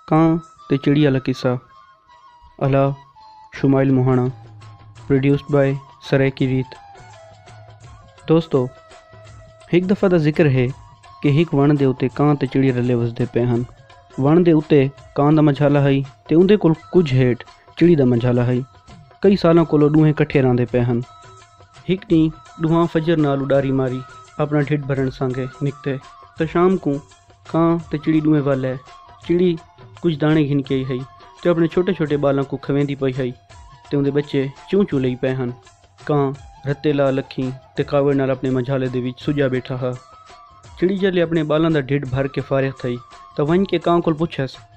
کاں تے چڑی آلا قصہ الا شمائل موہانا پروڈیوسڈ بائے سرائیکی ریت دوستو ہک دفعہ دا ذکر ہے کہ ہک وݨ دے اتے کاں تے چڑی رلے وسدے پے ہن وݨ دے اتے کاں دا منجھالا ہئی تے اوندے کول کجھ ہیٹھ چڑی دا منجھالا ہئی کئی سالاں کولو ݙوہیں کٹھے رہندے پے ہن ہک ݙینہہ ݙوہاں فجر نال اݙاری ماری اپݨا ڈھڈ بھرݨ سانگے نکتے تاں شام کوں کاں تے چڑی ݙوہیں ول ہے۔ چڑی کجھ داݨے گھن کے آئی ہئی تے اپݨے چھوٹے چھوٹے ٻالاں کوں کھویندی پئی ہئی تے اوندے ٻچے چوں چوں لئی پئے ہن۔ کاں رتے لا لکھیں تے کاوڑ نال اپݨے منجھالے دے وچ سڄا ٻیٹھا ہا۔ چڑی جیلھے اپݨے ٻالاں دا ڈھڈ بھر کے فارغ تھئی تاں ونڄ کے کاں کول پچھیس۔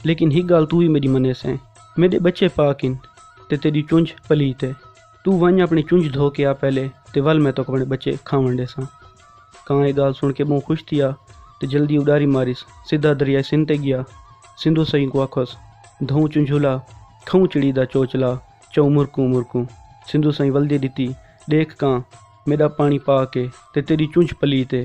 لیکن ہک گالھ توں وی میڈی منیسیں میڈے بچے پاک ہن تے تیڈی چنج پلیت ہے توں ونج اپنی چنج دھو کے آ پہلے تے ول میں توک اپنے بچے کھاون ڈیساں کاں اے گالھ سن کے بہوں خوش تھیا تے جلدی اڈاری ماریس سدھا دریائے سندھ تے گیا سندھو سئیں کوں آکھوس دھوں چنجھولا کھوں چڑی دا چوچ لا چوں مرکوں مرکوں سندھو سئیں ولدی ڈتی ڈیکھ کاں میڈا پانی پاک ہے تے تیڈی چنج پلیت ہے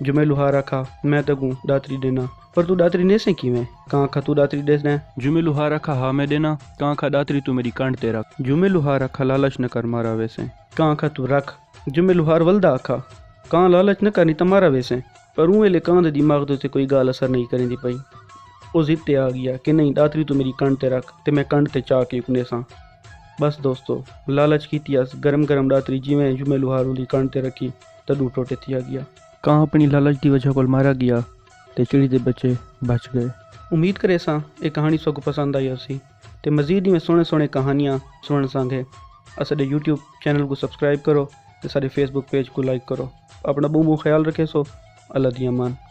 جو میں لوہار آکھا، میں تیکوں ݙاتری ݙینداں، پر توں ݙاتری نیسیں کیویں؟ کاں آکھا، توں ݙاتری ݙیسدیں؟ جو میں لوہار آکھا، ہا میں ݙینداں، کاں آکھا، ݙاتری توں میݙی کنڈھ تے رکھ۔ جو میں لوہار آکھا، لالچ نہ کر، مارا ویسیں۔ کاں آکھا، توں رکھ۔ جو میں لوہار ولدا آکھا، کاں لالچ نہ کر، نی تاں مارا ویسیں۔ پر اوں ویلے کاں دے دماغ تے اتھے کوئی ڳالھ اثر نئیں کریندی پئی۔ او ضد تے آ ڳیا کہ نئیں، ݙاتری توں میݙی کنڈھ تے رکھ، تے میں کنڈھ تے چا کے اکنیساں۔ ٻس دوستو! لالچ کیتی ہس، گرم گرم ݙاتری جیویں جو میں لوہار اوندی کنڈھ تے رکھی۔ تݙو ٹوٹے تھیا ڳیا۔ کاں اپݨی لالچ دی وجہ کول مارا ڳیا تے چڑی دے ٻچے بچ ڳئے۔ امید کریساں اے کہاݨی سوکوں پسند آئی ہوسی تے مزید ایویں سوہݨے سوہݨے کہانیاں سݨݨ سانگھے اساݙے یوٹیوب چینل کوں سبسکرائب کرو تے ساݙے فیس بک پیج کوں لائک کرو اپݨا ٻہوں ٻہوں خیال رکھیسو اللہ دی امان۔